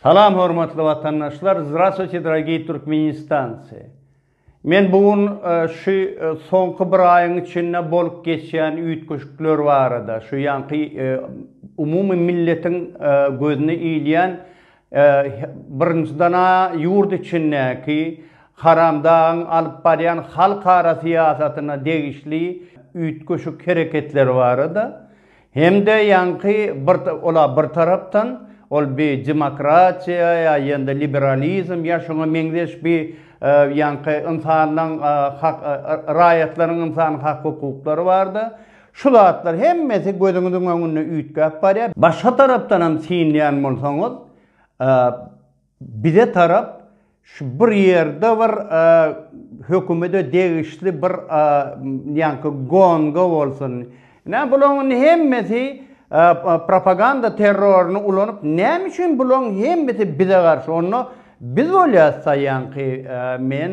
Salam hormatly watandaşlar Zdrastwuyte dragiy Türkmenistancy Men bu gün şu soňky bir aýyň içinde bolup geçýän üýtgeşikler barada şu ýaňky umumy milletiň gözüne ilýän birinjiden-ä ýurt içindäki Haramdagyň alyp barýan halkara syýasatyna degişli üýtgeşik hereketleri barada Hem-de ýaňky bir ola bir tarapdan ol bi demokratiýa ýa ýa-da liberalizm ýa şoňa meňzeş bi ýaňky ynsanlaň hak raýatlaryň ynsan hak hukuklary bardy. Şu zatlar hemmesi gözüňiziň öňünde üýtgäp barýar. Başga tarapdanam synlaýan bolsaňyz, Bize tarap şu bir ýerde bir hökümede degişli bir ýaňky gonga bolsun. Ine bulaň indi hemmesi propaganda terroryny ulanyp näme üçin bulaň hemmesi bize garşy onda biz bolýas da ýaňky men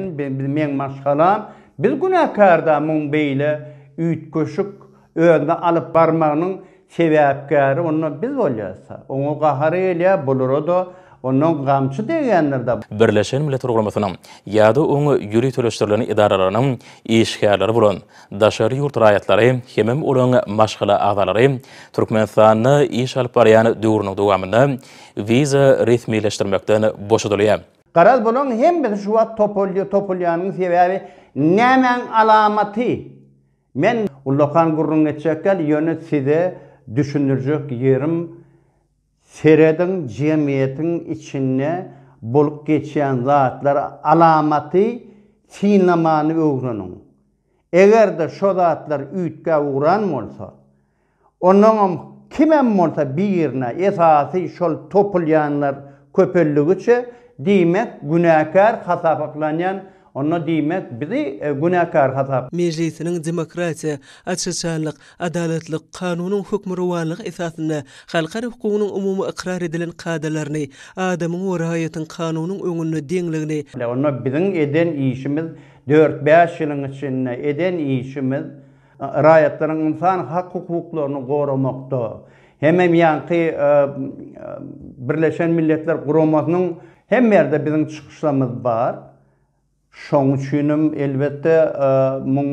meň maşgalam biz günäkärda muň beýle üýtgeşik Özüni alyp barmagynyň sebäpkäri onda biz bolýarys-a. Oňa gahary gelýär, bulara-da ondan gamçy degýändir-dä. Birleşen Milletler Guramasynyň ýa-da oňa ýöriteleşdirilen edaralarynyň işgärleri bolan daşary ýurt raýatlary hemem olaryň maşgala agzalary Türkmenistanda iş alyp barýan döwrüniň dowamynda wiza resmileşdirmekden boşadylýar. Garaz, bularyň hemmesi şu wagt topulýanyň sebäbi nämäň alamaty? Men ullakan gürrüň etjek däl, ýöne size düşündirjek ýerim, serediň jemgyýetiň içinde bolup geçýän zatlar alamaty synlamany öwreniň. Eger-de şo zatlar üýtgäp ugran bolsa, Onuňam kimem bolsa birine, esasy şol topulýanlar köpeldigiçe, diýmek, günäkär hasapaklanýan, onda diýmek, bizi günäkär hasap. Mejlisiniň demokratiýa, aç-açanlyk, adalatlyk, kanunyň hökmürowanlygy esasynda halkara hukugynyň umumy ykrar edilen kadalaryny, adamyň we raýatyň kanunyň öňünde deňligini, Onda biziň eden işimiz, dört-bäş ýylyň içinde eden işimiz, Raýatlaryň ynsan hak-hukuklaryny goramakda hememýanky Birleşen Milletler Guramasynyň hemme ýerde biziň çykyşlarymyz bar. Şoň üçinem elbetde muň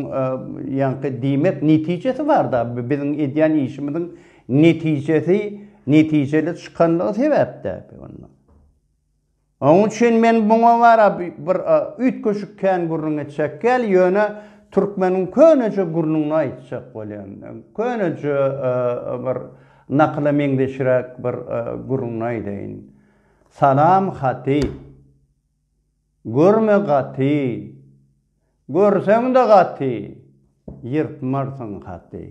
ýanky diýmek netijesi barda biziň edýän işimiziň netijesi netijeli çykanlygy sebäpde. Onuň üçin men muňa wara bir üýtgeşik kän gürrüň etjek däl, ýöne türkmeniň köneje gürrüňini aýtjak bolýan. Köneje bir nakyla meňzeşräk bir gürrüňini aýdaýyn. Salam haty. Görme gaty. Görseň-de gaty, ýyrtmarsyň haty.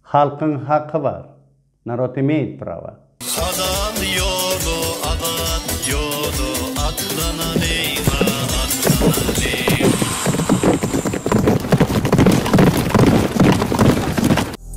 Halkyň haky bar, narod imeýt prawa. Halal ýola azat ýola atlanalyň a atlanalyň.